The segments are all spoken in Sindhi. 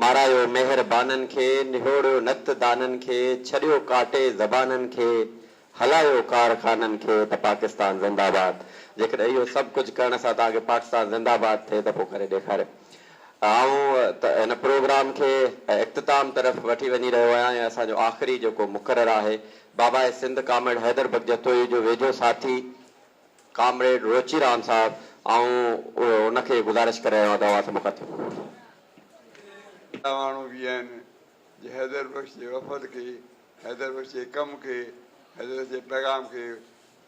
مارايو مهر بانن کي، نهوڙيو نڪت دانن کي، ڇڏيو ڪاٽي زبانن کي، هلايو ڪار خانن کي ته پاڪستان زنده آباد. جيڪڏهن اهو سڀ ڪجهه ڪرڻ سان توهان کي پاڪستان زنده آباد ٿئي ته پوء ڪري ڏيکاريو. آئون هن پروگرام کي اختتام طرف وٺي وڃي رهيو آهيان ۽ اسان جو آخري جيڪو مقرر آهي بابائي سنڌ ڪامريڊ حيدر بخش جتوئي جو ويجهو ساٿي، ڪامريڊ روچي رام صاحب آئون ان کي گذارش ڪري رهيو آهيان ته اوهان سڀ مخاطب. اهڙا ماڻهو به آهن جو حيدر بخش جي وفد کي، حيدر بخش جي ڪم کي، حيدر بخش جي پيغام کي،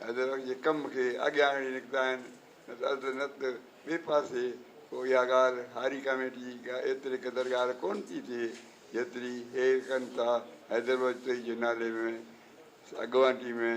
حيدر بخش جي ڪم کي اڳيان آڻي نڪتا آهن نه ته اڌ نه ته ٻئي پاسي پوء اها ڳالهه هاري ڪاميٽي جي ايتري قدر ڳالهه ڪونه ٿي ٿئي جيتري هي ڪن ٿا حيدر بخش جي نالي ۾ اڳواٽي ۾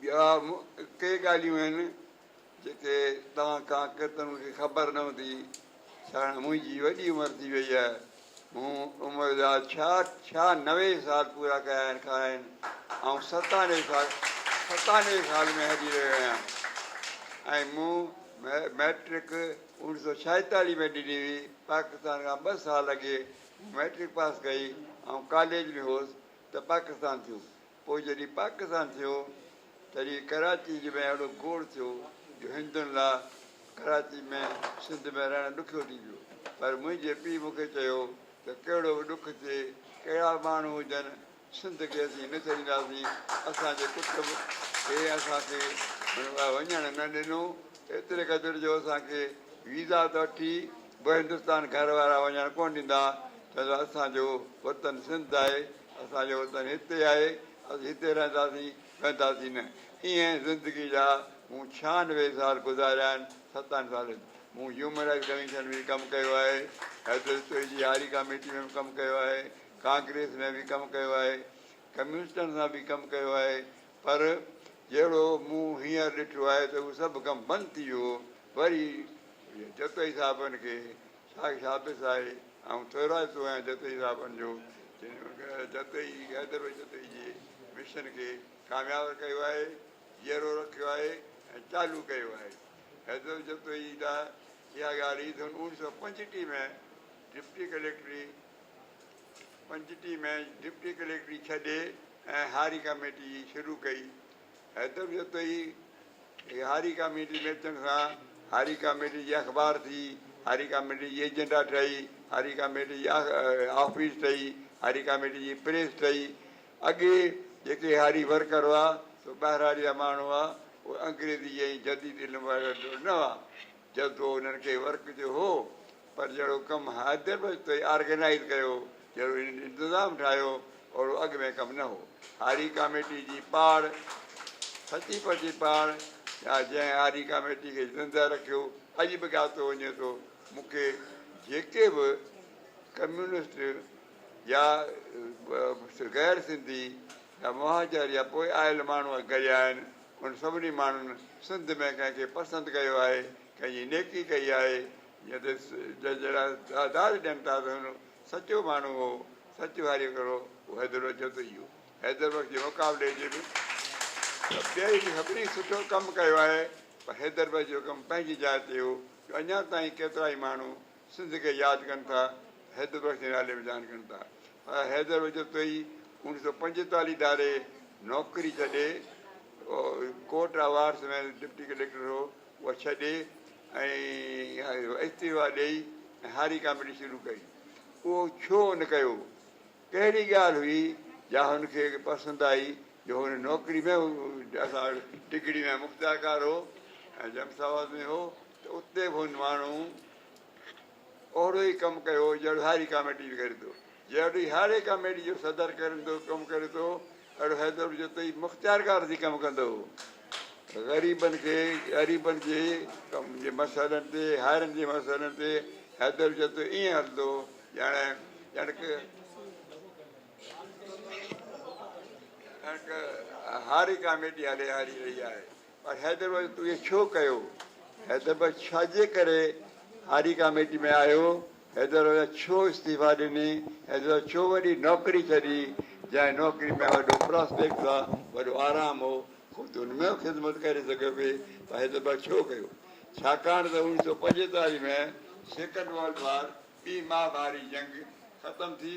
ٻيا ڪي ڳالهيون آهن جيڪي توهان کان ڪيترن کي خبر نه هوندي ته هاڻي منهنجي وڏي عمر ٿي وئي آهي مون عمر جا ڇا ڇا نوي سال پورا ڪيا آهن کان آهن آئون ستانوي سال ستانوي سال ۾ هلي رهيو آهيان ۽ مون مئٽرڪ اوڻيهه سو ڇائيتاليهه ۾ ڏني هئي پاڪستان کان ٻه سال اڳي مئٽرڪ پاس ڪئي آئون ڪاليج ۾ هوس ته پاڪستان ٿيون پوء جڏهن پاڪستان ٿيو تڏهن ڪراچي جي ۾ اهڙو گوڙ ٿيو جو هندن لا ڪراچي ۾ سنڌ ۾ رهڻ ڏکيو ٿي پيو پر منهنجي پيء مون کي چيو ته ڪهڙو به ڏک ٿئي ڪهڙا به ماڻهو هجن سنڌ کي اسين نه ڇڏينداسين اسان جي ڪٽنب کي اسان کي وڃڻ نه ڏنو ايتري قدر جو اسان کي ويزا ته وٺي به هندستان گهر وارا وڃڻ ڪونه ڏيندا ڇا ته اسان جو وطن سنڌ آهي، اسان جو وطن هتي آهي، اسين هتي رهنداسين، وينداسين نه. ايئن زندگي جا مون ڇهانوي سال گذاريا آهن، ستن سالن مون هيومن رائيٽس ڪميشن ۾ به ڪم ڪيو آهي، حيدرالتوئي جي هاري ڪاميٽي ۾ به ڪم ڪيو آهي، ڪانگريس ۾ به ڪم ڪيو آهي، ڪميونسٽن سان به ڪم ڪيو آهي، پر جهڙو مون هينئر ڏٺو آهي ته اهو سڀ ڪم بند ٿي ويو، وري جتوئي صاحبن کي ساڳ ثابت آهي. آئون ٿورائتو آهيان جتوئي صاحبن جو جتوئي حيدر جتوئي جي مشن کي ڪامياب ڪيو آهي، جيئرو رکيو آهي ۽ چالو ڪيو آهي. حيدر جتوئي ته اها ڳالهه ئي سن اوڻ سؤ پنجٽيهه ۾ ڊپٽي ڪليڪٽري پنجٽيهه ۾ ڊپٽي ڪليڪٽري ڇڏي ۽ هاري ڪاميٽي شروع ڪئي. حيدر جتوئي جي هاري ڪاميٽي ۾ اچڻ سان هاري ڪاميٽي جي اخبار ٿي، هاري ڪاميٽي جي ايجنڊا ٺهي، هاري ڪاميٽي جي آفيس ٺهي، هاري ڪاميٽي جي پريس ٺهي. اڳي جيڪي هاري ورڪر هئا سو ٻهراڙيا ماڻهو هئا، اهي انگريزي ۽ جديد علم وارا نه هئا. جذبو انهن کي ورڪ جو هو، پر جهڙو ڪم حيدر بچتوئي آرگنائيز ڪيو، جهڙو هنن انتظام ٺاهيو، اوڙو اڳ ۾ ڪم نه هو. هاري ڪاميٽي جي پاڙ، سچي پچي پاڙ، يا جنهن هاري ڪاميٽي کي زندهه رکيو، اڄ به ڳاتو وڃي ٿو. مون کي جيڪي به ڪميونسٽ يا غير سنڌي يا مهاجر يا پوء آيل ماڻهو گهڙيا آهن، انهن سڀني ماڻهن سنڌ ۾ ڪنهن کي پسند ڪيو آهي، ڪنهن جي نيڪي ڪئي آهي، جنهن جهڙا تعداد ڏين ٿا ته هن سچو ماڻهو هو، سچ واري هڪڙو هو حيدر بخش جتو اهو حيدر بخش جي مقابلي جي به ٻئي به سڀني سٺو ڪم ڪيو آهي پر حيدر بخش جو ڪم پنهنجي جاء تي هو جو اڃا تائين ڪيترائي ماڻهو سنڌ کي ياد ڪن ٿا ته حيدر بخش جي نالي ۾ ڌيان ڪن ٿا پر حيدر بخش جتوئي اوڻيهه سو پنجيتاليهه ڌاري نوڪري ڇڏي court of arts ۾ deputy collector هو اها ڇڏي ۽ استعيفا ڏئي ۽ هاري ڪاميڊي شروع ڪئي. اهو ڇو هن ڪيو؟ ڪهڙي ڳالهه هئي جا هن کي پسند آئي جو هن نوڪري ۾ اسان وٽ ڊگهڙي ۾ مختيارڪار هو ۽ جمساواس ۾ هو ته اتي به هن ماڻهو اهڙو ئي ڪم ڪيو جهڙو هاري ڪاميٽي جو ڪري ٿو. جهڙو ئي هاري ڪاميٽي جو صدر ڪري ٿو، ڪم ڪري ٿو، اهڙو حيدر جو تئي مختيار ڪارزي ڪم ڪندو هو. غريبن کي، غريبن جي ڪم جي مسئلن تي، هارين جي مسئلن تي حيدر جو تئي ائين هلندو هو، ڄڻ، ڄڻڪ، ڄڻڪ هاري ڪاميٽي هلي هاري رهي آهي. پر حيدر بخش تون ايئن ڇو ڪيو؟ حيدر بخش ڇاجي ڪري هاري ڪاميٽي ۾ آيو؟ حيدر بخش ڇو استعيفيٰ ڏني؟ حيدر بخش ڇو وڏي نوڪري ڇڏي؟ جنهن نوڪري ۾ وڏو پراسپيڪٽس آ، وڏو آرام هو، خود تون ان ۾ به خدمت ڪري سگهيو پئي، پر حيدر بخش ڇو ڪيو؟ ڇاڪاڻ ته اوڻيهه سؤ پنجيتاليهه ۾ سيڪنڊ ورلڊ وار، ٻي مهاڀاري جنگ، ختم ٿي،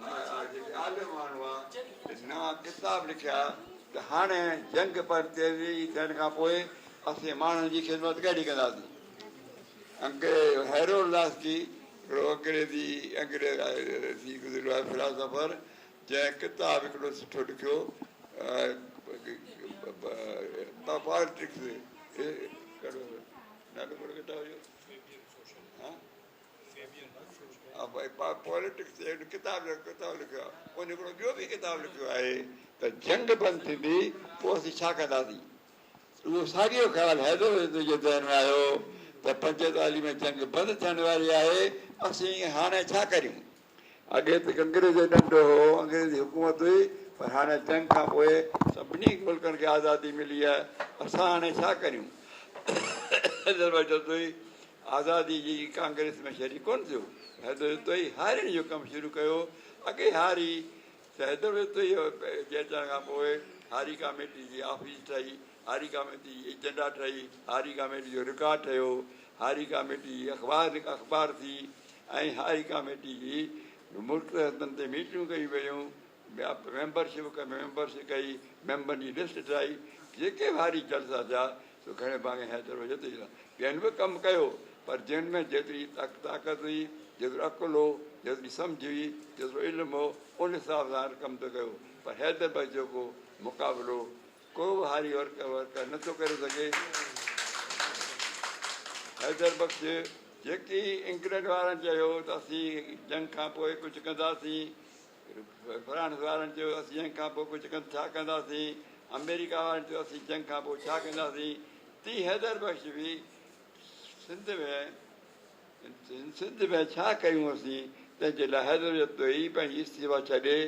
مهاراج جي خيال ۾ ماڻهو آ جن نا ڪتاب لکيا ته هاڻي جنگ پر تيزي ٿيڻ کان پوء اسين ماڻهن جي خدمت ڪهڙي ڪنداسين. انگريز هيرو لاسڪي هڪڙو انگريزي انگريز ٿي گذريو آهي فلاسافر جنهن ڪتاب هڪڙو سٺو لکيو پالٽڪس ڪهڙو نالو ڪهڙو ڪتاب جو. پاليٽڪس جي هن ڪتاب جو ڪتاب لکيو آهي ان هڪڙو ٻيو به ڪتاب لکيو آهي ته جنگ بند ٿيندي پوء اسين ڇا ڪنداسين اهو ساڳيو خيال حيدر حيدر جي ذهن ۾ آيو ته پنجتالي ۾ جنگ بند ٿيڻ واري آهي اسين هاڻي ڇا ڪريون اڳي ته ڪنگريس جو ڏنڊ هو، انگريزي حڪومت هئي، پر هاڻي جنگ کان پوء سڀني ملڪن کي آزادي ملي آهي، اسان هاڻي ڇا ڪريون؟ حيدر بجتوئي آزادي جي ڪانگريس ۾ شريڪ ڪونه ٿيو، حيدر بجتوئي هاريڻ جو ڪم شروع ڪيو، اڳي هاري ته حيدر بجتوئي جي اچڻ کان پوء هاري ڪاميٽي جي آفيس ٺهي، هاري ڪاميٽي ايجنڊا ٺهي، هاري ڪاميٽي جو رڪارڊ ٺهيو، هاري ڪاميٽي جي اخبار اخبار ٿي ۽ هاري ڪاميٽي جي مختلف هنڌن تي ميٽنگون ڪيون ويون، ميمبر شپ ڪئي ميمبر شپ ڪئي، ميمبرن جي لسٽ ٺاهي، جيڪي به هاري جلسا ٿيا سو گهڻي ڀاڱي حيدر هو جتي جتي ٻين به ڪم ڪيو پر جن ۾ جيتري طاقت هئي، جيترو عقل هو، جيتري سمجهه هئي، جيترو علم هو ان حساب سان هر ڪم ته ڪيو پر حيدر بخش جيڪو مقابلو ڪو به هاري ورڪه ورڪه نه ٿو ڪري سگهي. حيدر بخش جيڪي انگلنڊ وارن چيو ته اسين جنگ کان پوء ڪجهه ڪنداسين، فرانس وارن چيو اسين جنگ کان پوء ڪجهه ڪن ڇا ڪنداسين، آمريڪا وارن چيو اسين جنگ کان پوء ڇا ڪنداسين، تيئن حيدر بخش به سنڌ ۾ سنڌ ۾ ڇا ڪيون اسين تنهن جي لاء حيدر جتوئي پنهنجي استعيفا ڇڏي،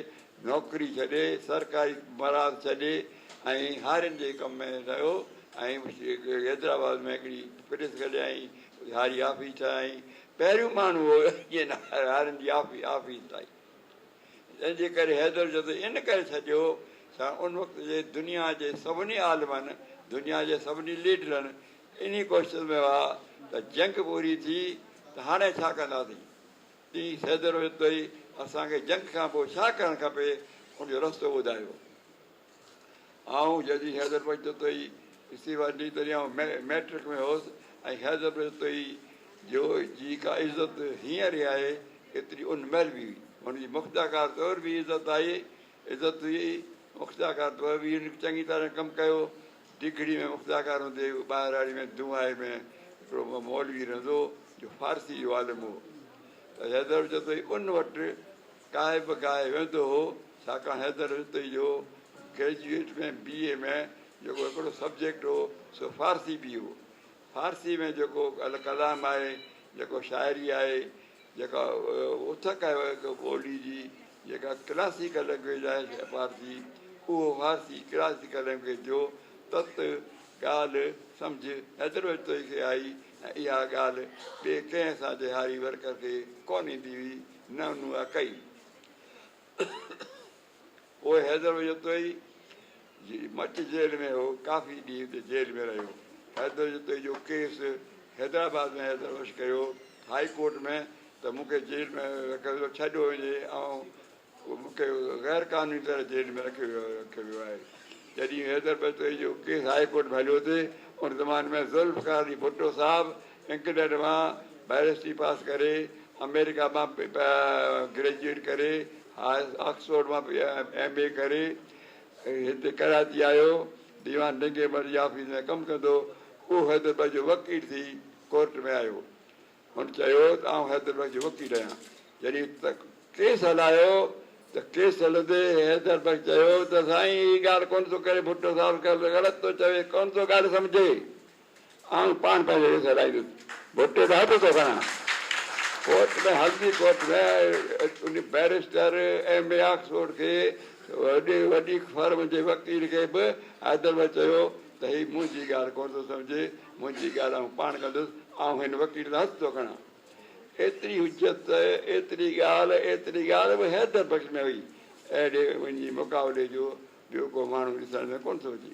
نوڪري ڇڏي، سرڪاري مراعات ڇڏي ۽ هارين جي ڪم ۾ لڳو ۽ حيدرآباد ۾ هڪڙي پريس کليائين، هاري آفيس ٺاهيائين. پهريون ماڻهو هو جنهن هارين جي آفيس ٺاهي. جنهن جي ڪري حيدر جتوئي ان ڪري ڇڏيو ڇا ان وقت جي دنيا جي سڀني عالمن، دنيا جي سڀني ليڊرن، انهيء ڪوشش ۾ هئا ته جنگ پوري ٿي ته هاڻي ڇا ڪنداسين؟ ڏينهن سيدڙ وجهندو ئي اسان کي جنگ کان پوء ڇا ڪرڻ کپي ان جو رستو ٻڌايو. آئون جڏهن حيدر بچتوئي جي استعيفا ڏني تڏهن آئون مئٽرڪ ۾ هوس ۽ حيدر بچتوئي جو جي ڪا عزت هينئر ئي آهي ايتري ان مهل به هئي. هن جي مختياڪار طور به عزت آهي عزت هئي. مختياڪار طور به هن چڱي طرح ڪم ڪيو ڊگهڙي ۾ مفتاحخان هوندي هو ٻهراڙي ۾ دونهائي ۾ هڪڙو مولوي رهندو هو جو فارسي جو عالم هو ته حيدر جتوئي ان وٽ ڪاهي به ڪاهي ويندو هو ڇاڪاڻ حيدر جتوئي جو گريجوئيٽ ۾ بي اي ۾ جيڪو هڪڙو سبجيڪٽ هو سو فارسي به هو فارسيء ۾ جيڪو الڪلام آهي، جيڪو شاعري آهي، جيڪا اٿڪ آهي هڪ ٻوليء جي، جيڪا ڪلاسيڪل لئنگويج آهي فارسي، اهو فارسي ڪلاسيڪل لئنگويج جو تت ڳالهه سمجهه ايترو اجتوئي کي آئي ۽ اها ڳالهه ٻئي ڪنهن اسان جي هاري ورڪر کي ڪونه ايندي هئي، نه انهن اها ڪئي. پوء حيدر جتوئي جي مچ جيل ۾ هو، ڪافي ڏينهن اتي جيل ۾ رهيو. حيدر جتوئي جو ڪيس حيدرآباد ۾ حيدر بخش ڪيو هاء ڪورٽ ۾ ته مون کي جيل ۾ رکيو ويو، ڇا ڏيو وڃي آئون مون کي غير قانوني طرح جيل ۾ رکيو ويو آهي. جڏهن حيدر جتوئي جو ڪيس هاء ڪورٽ ۾ هليو ٿي ان زماني ۾ ذوالفقار علي ڀٽو صاحب انڪڊيڊ مان بئريسٽري پاس ڪري، آمريڪا مان گريجوئيٽ ڪري، آڪسفورڊ مان ايم اي ڪري هتي ڪراچي آيو. ديوان ڊنگي مل جي آفيس ۾ ڪم ڪندو هو. هو حيدر بخش جو وڪيل ٿي ڪورٽ ۾ آيو. هن چيو ته آئون حيدر بخش جو وڪيل آهيان. جڏهن ڪيس هلايو ته ڪيس هلندي حيدر بخش چيو ته سائين هي ڳالهه ڪونه ٿو ڪري ڀٽو صاحب غلط ٿو چوي، ڪونه ٿو ڳالهه سمجهي. آن پاڻ پنهنجي ويس هلائيندس ڀٽي ڏانهن به ٿو کڻان. ڪورٽ ۾ هلندي court ۾ barrister M A Oxford کي وڏي وڏي فرم جي وڪيل کي به حيدرمل چيو ته هي منهنجي ڳالهه ڪونه ٿو سمجهي منهنجي ڳالهه آئون پاڻ ڪندس آئون هن وڪيل ڏانهن هٿ ٿو کڻان. ايتري حجت ايتري ڳالهه ايتري ڳالهه به حيدر بخش ۾ هئي اهڙي وڃي مقابلي جو ٻيو ڪو ماڻهو ڏسڻ ۾ ڪونه ٿو اچي.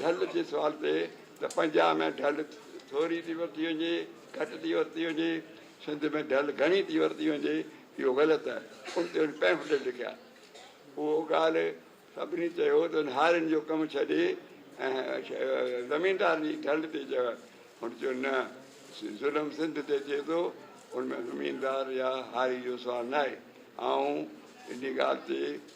ڍل جي سوال تي ته پنجاب ۾ ڍل ٿوري ٿي ورتي وڃي، گهٽ ٿي ورتي وڃي، سنڌ ۾ ڍل گهڻي ٿي ورتي وڃي، اهو غلط آهي. ان تي هن پيمفليٽ لکيا. اهو ڳالهه سڀني چيو ته هن هارين جو ڪم ڇڏي ۽ زميندارن جي ڍل تي چيو آهي. هن چيو نه، ظلم سنڌ تي ٿئي ٿو، ان ۾ زميندار يا هاري جو سوال ناهي. آئون ان ڳالهه تي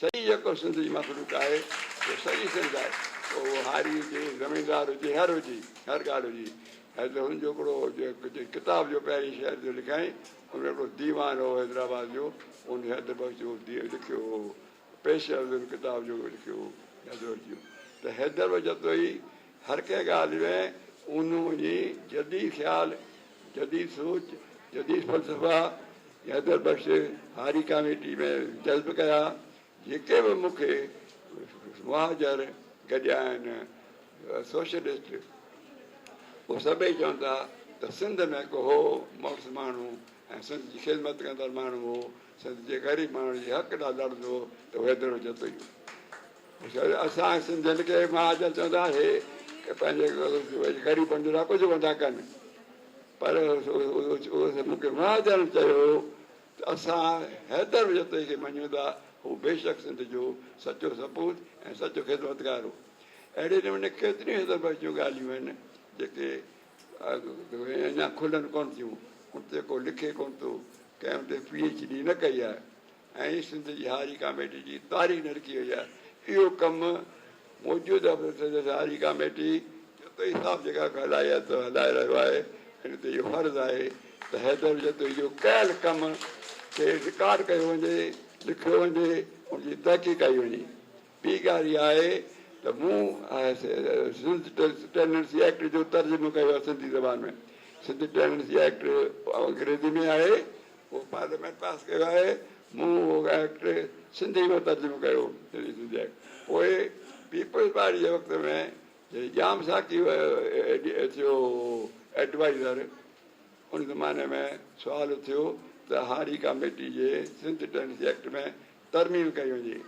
سعي جيڪو سنڌ جي مخلوق آهي سو سعي سنڌ آهي پوء اهو هاري هجي زميندار هجي هر هجي هر ڳالهه هجي حيدر هن جو هڪڙو جنهن ڪتاب جو پهرين شعر جو لکيائين ان هڪڙو ديوان هو حيدرآباد جو ان حيدر بخش جو لکيو هو پيش عرض ان ڪتاب جو لکيو هو حيدر بخش جو ته حيدر بخش جتوئي هر ڪنهن ڳالهه ۾ اونهو وڃي جديد خيال، جديد سوچ، جديد فلسفا حيدر بخش هاري ڪاميٽي ۾ جذب ڪيا، جيڪي به مون کي مهاجر گڏيا آهن، سوشلسٽ، اهي سڀئي چون ٿا ته سنڌ ۾ هڪ هو مڙس ماڻهو ۽ سنڌ جي خدمت ڪندڙ ماڻهو هو، سنڌ جي غريب ماڻهن جي حق لاء لڙندو هو ته هو حيدر هجتو ئي هو. اسان سنڌين کي مهاجن چوندا اهي پنهنجي غريبن جو نه ڪجهه ڪندا ڪن پر مونکي مهاجن چيو ته اسان حيدر جتوئي کي مڃون ٿا هو بيشڪ سنڌ جو سچو سپوت ۽ سچو خدمتگار هو اهڙي نموني ڪيتريون حيدر بخش جون ڳالهيون آهن جيڪي اڃا کلن ڪون ٿيون ان تي ڪو لکي ڪون ٿو ڪنهن ان تي پي ايڇ ڊي نه ڪئي آهي ۽ سنڌ جي هاري ڪاميٽي جي تاري نرڪي وئي آهي اهو ڪم موجوده پريزيڊنٽ هاري ڪاميٽي جتوئي صاحب جيڪا ڪلائي آهي سو هلائي رهيو آهي ان تي اهو فرض آهي ته حيدر جتوئي جو ڪيل ڪم کي رڪارڊ ڪيو وڃي لکيو وڃي ان جي تحقيق ڪئي وڃي ٻي ڳالهه اها آهي ته مون سنڌ ٽيننسي ايڪٽ جو ترجمو ڪيو آهي سنڌي زبان ۾ سنڌ ٽيننسي ايڪٽ انگريزي ۾ آهي اهو پارليامينٽ پاس ڪيو آهي مون اهو ايڪٽ سنڌي ۾ ترجمو ڪيو سنڌي سنڌي ايڪٽ پوء پيپلز پارٽي جي وقت ۾ جڏهن ڄام ساقي ٿيو ايڊوائزر ان زماني ۾ سوال اٿيو ته هاري ڪاميٽي جي سنڌ ٽينيسي ايڪٽ ۾ ترميم ڪئي وڃي.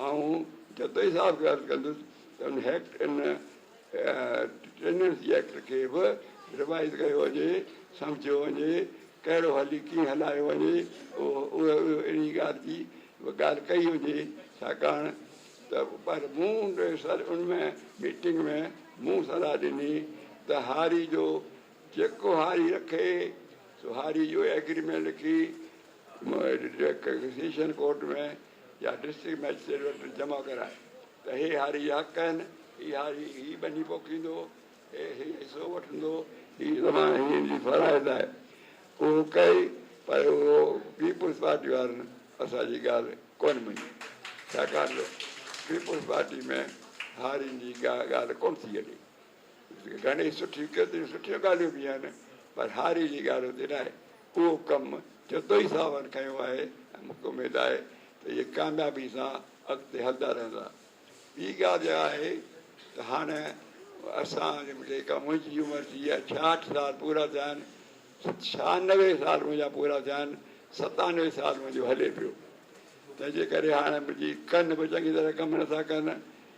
آئون جتوئي صاحب کي عرض ڪندس ته ان هيڪٽ ان ٽيننسي ايڪٽ کي به ريوائيز ڪيو وڃي، سمجهيو وڃي، ڪهڙو هلي ڪيئن هلايو وڃي، اهو انهي ڳالهه جي به ڳالهه ڪئي وڃي، ڇاڪاڻ ته پر مون ان ۾ ميٽنگ ۾ مون صلاح ڏني ته هاري جو جيڪو هاري رکي سو هاري جو ايگريمينٽ لکي، سيشن ڪورٽ ۾ يا ڊسٽرڪٽ مئجسٽريٽ وٽ جمع ڪرائي ته هي هاري جا حق آهن، هي هاري هي ٻني پوکيندو، هي هي حصو وٺندو، هي زمان هي هن جي فرائض آهي. اهو ڪئي پر اهو پيپلز پارٽي وارن اسان جي ڳالهه ڪونه مڃي ڇاڪاڻ ته پيپلز پارٽي ۾ هارين جي ڪا ڳالهه ڪونه ٿي هلي. گهڻي سٺي ڪيتريون سٺيون ڳالهيون به آهن پر هاري جي ڳالهه اتي نه آهي اهو ڪم جتوئي صاحبن کنيو آهي ۽ مون کي اميد آهي ته اهي ڪاميابي سان اڳتي هلندا رهندا ٻي ڳالهه اها آهي ته هاڻ اسان جيڪا منهنجي عمر ٿي آهي ڇاهٺ سال پورا ٿيا آهن ڇهانوي سال منهنجا پورا ٿيا آهن ستانوي سال منهنجو هلي پيو تنهنجي ڪري هاڻ منهنجي ڪن به چڱي طرح ڪم نٿا ڪن